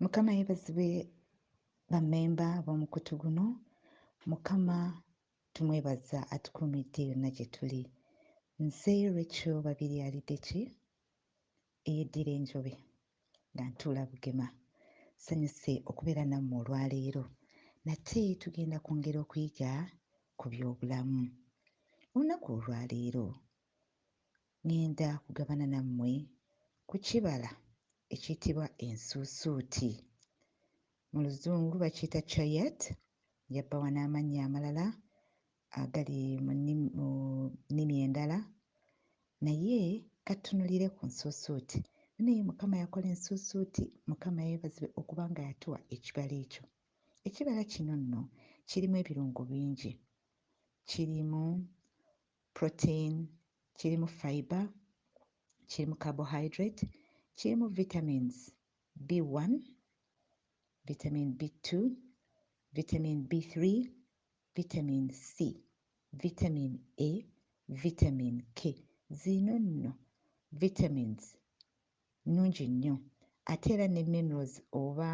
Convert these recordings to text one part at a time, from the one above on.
mukama yebazibwe bamemba b'omukutu guno mukama tumwebaza atukuumidde yonna gye tuli nze rachel babiri alideki eyeddira enjobe nga ntuula bugema sanyuse okubeera nammwe olwaleero nate tugenda kwongera okuyiga ku byobulamu olunaku olwaleero Ŋŋenda kugabana nammwe ku kibala ekiyitibwa ensuusuuti. Mu Luzungu bakiyita chayat, yabbawa n'amannya amalala agali mu nnimi endala, naye ka tutunulire ku nsuusuuti. Nno ye Mukama yakola ensuusuuti, Mukama yeebazibwe okuba nga yatuwa ekibala ekyo. Ekibala kino nno kirimu ebirungo bingi. Kirimu protein, kirimu fibre, kirimu carbohydrate, kirimu vitamins, B one, vitamin B two, vitamin B three, vitamin C, vitamin A, vitamin K ziino nno vitamins nnungi nnyo ate era ne minerals oba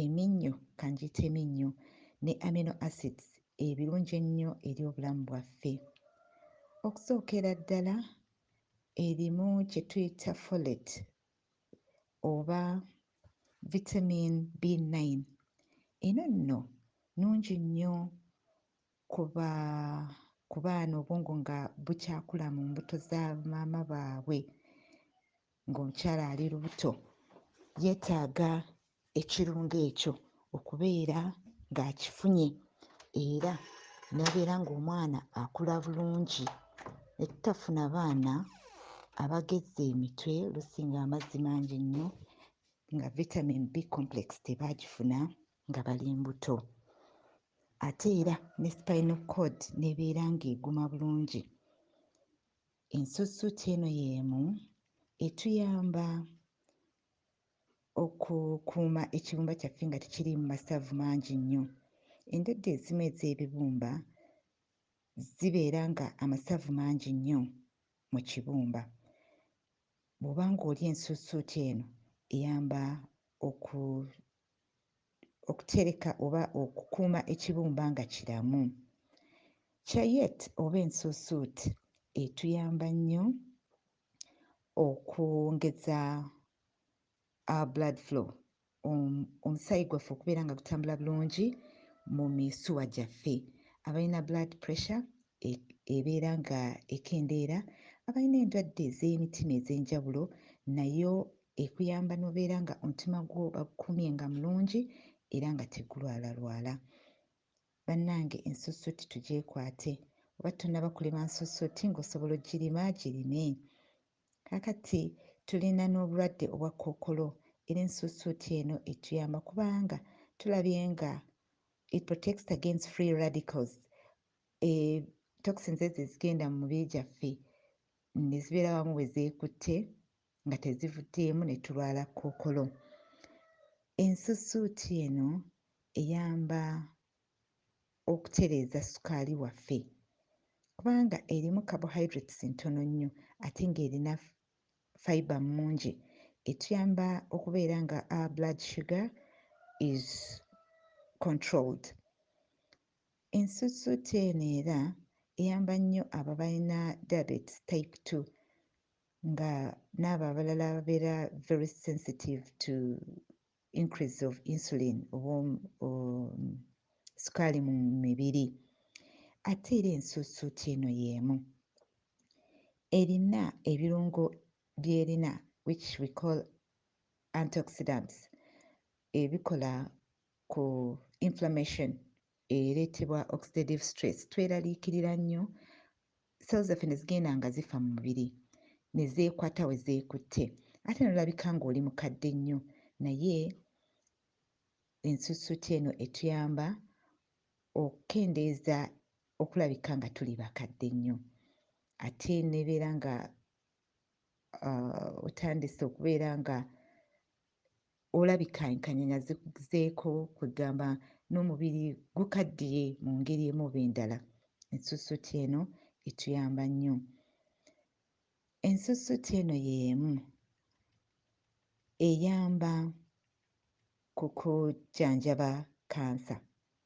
Eminnyo ka ngiyite eminnyo ne amino acids ebirungi ennyo eri obulamu bwaffe. Okusookera ddala erimu kye tuyita folate oba vitamin B9. Eno nno nnungi nnyo kuba ku baana obwongo nga bukyakula mu mbuto za maama baabwe ng'omukyala ali lubuto yeetaaga ekirungo ekyo okubeera ng'akifunye era n'abeera ng'omwana akula bulungi ne tutafuna baana abagezze emitwe oluusi ng'amazzi mangi nnyo nga vitamin b complex tebaagifuna nga bali mbuto ate era ne spinal cord n'ebeera ng'eguma bulungi. Ensuusuuti eno y'emu etuyamba okukuuma ekibumba kyaffe nga tekiriimu masavu mangi nnyo. Endwadde ezimu ez'ebibumba zibeera nga amasavu mangi nnyo mu kibumba. Bw'oba ng'olya ensuusuuti eno eyamba oku okutereka oba okukuuma ekibumba nga kiramu. Cayet oba ensuusuut etuyamba nnyo okwongeza our blood flow, omusaayi gwaffe okubeera nga gutambula bulungi mu misuwa gyaffe. Abalina blood pressure e, ebeera nga ekendeera, abalina endwadde ez'emitima ez'enjawulo nayo ekuyamba nobeera nga omutima gwo bagukumye nga mulungi era nga tegulwala lwala banange ensusuuti tugyekwate oba tonaba kulima nsusuuti nga osobola ogirima girime kakati tulina n'obulwadde obwa kookolo era ensusuuti eno etuyamba kubanga tulabye nga it protects against free radicals e, toxins ezo ezigenda mu mubiri gyaffe nezibeera wamu bwe zeekutte nga tezivuddeemu ne tulwala kkookolo. Ensusuuti eno eyamba okutereeza ssukaali waffe kubanga erimu carbohydrates ntono nnyo ate ng'erina fibre mungi etuyamba okubeera nga our blood sugar is controlled. Ensusuuti eno era eyamba nnyo abo abalina diabetes type two nga n'abo abalala ababeera very sensitive to increase of insulin oba um, um, sukaali mu mibiri ate era ensuusuuti eno y'emu erina ebirungo by'erina which we call antioxidants ebikola ku inflammation ereetebwa oxidative stress, tweraliikirira nnyo, cells zaffe ne zigenda nga zifa mu mubiri ne zeekwata we zeekutte ate n'olabika ng'oli mukadde nnyo naye ensusuuti eno etuyamba okukendeeza okulabika nga tuli bakadde nnyo ate nebeera nga uh, otandise okubeera nga Olabika enkanya nga zikuzeeko kwegamba n'omubiri gukaddiye mu ngeri emu oba endala. Ensusuuti eno etuyamba nnyo. Ensusuuti eno y'emu eyamba ku kujjanjaba kansa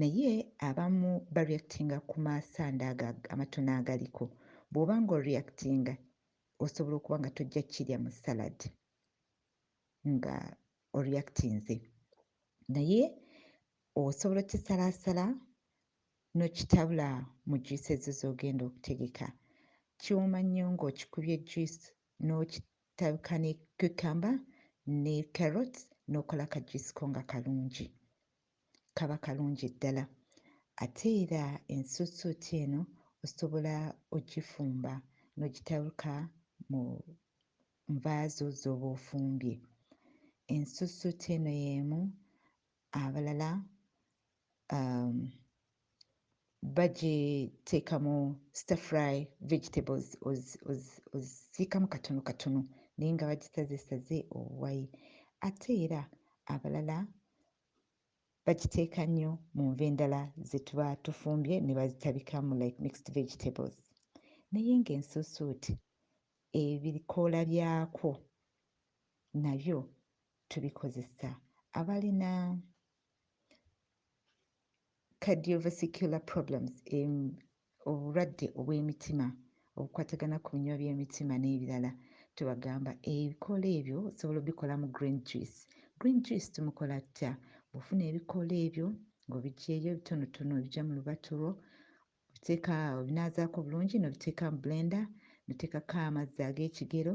Naye abamu ba reactinga ku ma sand ago amatono agaliko. Bwoba nga o reactinga osobola okuba nga tojja kirya mu salad nga o reactinze. Naye osobola okisalaasala n'okitabula mu juice ezo z'ogenda okutegeka. Kiwooma nnyo ng'okikubye juice n'oki tabika ne cucumber ne carrots nokola ka juice ko nga kalungi. kaba kalungi ddala ate era ensuusuuti eno osobola ogifumba n'ogitabuka mu nva zo z'oba ofumbye. Ensuusuuti eno y'emu abalala um, bagiteekamu star fry vegetables ozisiikamu katono katono naye nga bagisazesaze obuwayi ate era abalala bagiteeka nnyo mu nva endala ze tuba tufumbye ne bazitabikamu like mixed vegetables naye ng'ensuusuuti ebikoola byakwo nabyo tubikozesa abalina cardiovascular problems, em, obulwadde obw'emitima obukwatagana ku binywa by'emitima n'ebirala tubagamba ebikoola ebyo osobola obikolamu green juice. Green juice tumukola tutya? Bw'ofuna ebikoola ebyo ng'obiggyeeyo ebitonotono obija mu lubatu lwo obiteeka obinaazaako bulungi n'obiteeka mu blender n'oteekako amazzi ag'ekigero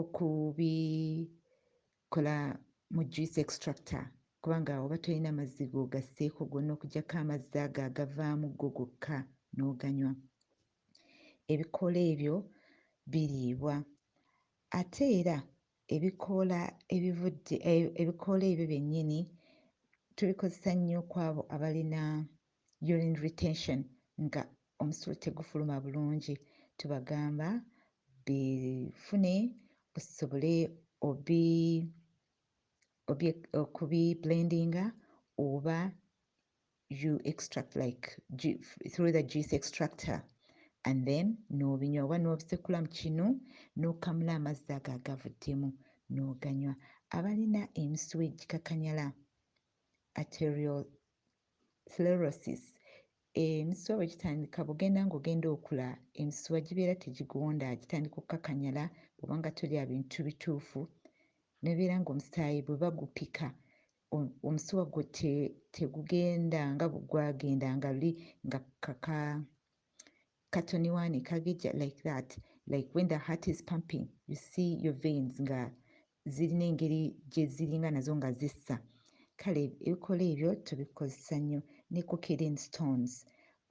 okubikola mu juice extractor kubanga oba tolina mazzi g'ogasseeko gonna okugyako amazzi ago agavaamu go gokka n'oganywa. Ebikoola ebyo biriibwa ate era ebikoola ebivudde eh, ebikoola ebyo byennyini tubikozesa nnyo kw'abo abalina urine retention nga omusulo tegufuluma bulungi tubagamba bifune busobole obi obi okubi blendinga oba you extract like ju- through the juice extractor and then n'obinywa oba n'obisekula mu kinu n'okamula amazzi ago agavuddemu n'oganywa abalina emisuwa egikakanyala arterial sclerosis emisuwa bwe gitandika bugenda ng'ogenda okula emisuwa gibeera tegigonda gitandika okukakanyala bwoba nga tolya bintu bituufu nebeera ng'omusaayi bwe bagupika omusuwa gwo tegugenda nga gwagenda nga luli nga kaka katoniwaani kagejja like that like when the heart is pumping you see your veins nga zirina engeri gye ziringa nazo nga zissa kale ebikola ebyo tubikozesa nnyo ne coqueline stones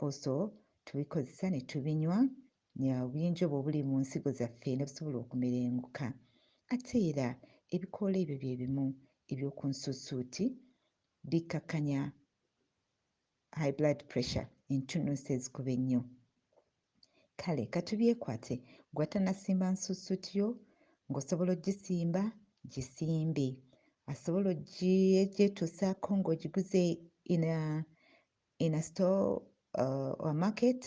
also tubikozesa ne tubinywa obuyinja obwo obuli mu nsigo zaffe ne busobola okumerenguka ate era ebikoola ebyo bye bimu eby'oku nsuusuuti bikkakkanya high blood pressure entunuusi ezikuba ennyo kale katubyekwate gwe atanasimba nsusuuti yo ng'osobola ogisimba gisimbe asobola ogyetuusaako ng'ogiguze ina ina store uh, or market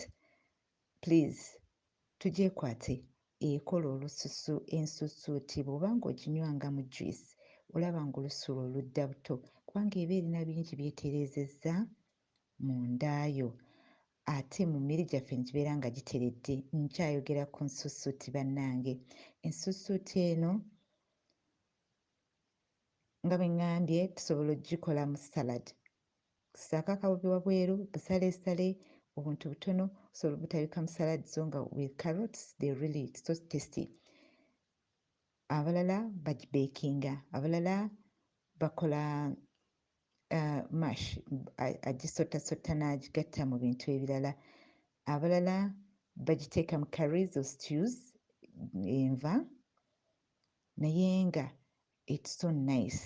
Please tugyekwate ekola olususu ensusuuti bwoba nga oginywa nga mu juice olaba nga olususu lwo ludda buto kubanga eba erina bingi byetereezezza mu nda yo ate mu mmere gyaffe negibeera nga giteredde nkyayogera ku nsusuuti bannange ensusuuti eno nga bwe ŋŋambye tusobola okugikolamu salad ssaako akabobi wabweru, busaleesale, obuntu butono osobola obutabika mu salad zo nga with carrots they really it's so tasty abalala bagibekinga abalala bakola uh, mash agisottasotta n'agigatta mu bintu ebirala abalala bagiteeka mu carries or stews enva naye nga it's so nice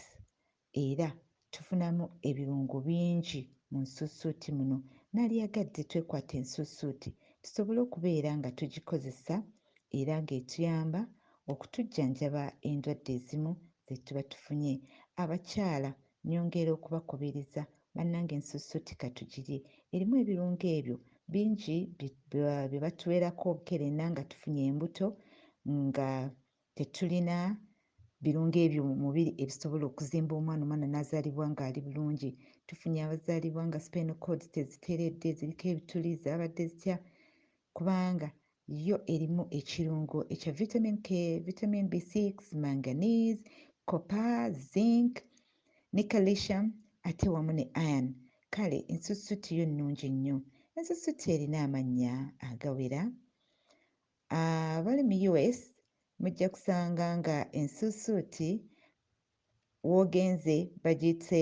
era tufunamu ebirungo bingi mu nsuusuuti muno nalyagadde twekwate ensuusuuti tusobole okubeera nga tugikozesa era ng'etuyamba okutujjanjaba endwadde ezimu zetuba tufunye. Abakyala nyongera okubakubiriza bannange ensuusuuti katugirye erimu ebirungo ebyo bingi bye batuwerako obukerenna nga tufunye embuto nga Tetulina birungo ebyo mu mubiri ebisobola okuzimba omwana omwana n'azaalibwa ng'ali bulungi. Tufunye abazaalibwa nga spinal cords teziteredde, ziriko ebituli, zaabadde zitya? Kubanga yo erimu ekirungo ekya vitamin K, vitamin B6, manganese, copper, zinc ne calcium ate wamu ne iron. Kale ensusutti yo nnungi nnyo. Ensusutti erina amannya agawera. Abali mu US mujja kusanga nga ensuusuuti w'ogenze bagiyite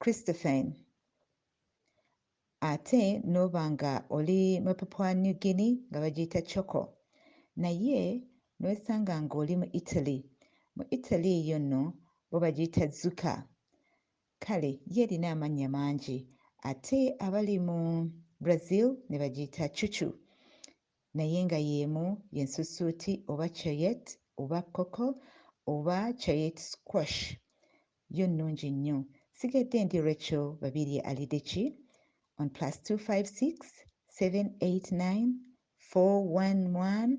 Christophen ate n'oba nga oli mu Papua New Guinea nga bagiyita Choco naye n'wesanga ng'oli mu Italy mu Italy eyo nno bo bagiyita Zucca Kale yo erina amannya mangi ate abali mu Brazil ne bagiyita Chuchu naye nga y'emu ye nsusuuti oba Choyette oba Coco oba Choyette Squash yo nnungi nnyo. Nsigadde ndi Recho Babirye Alidde ki on plus two five six seven eight nine four one one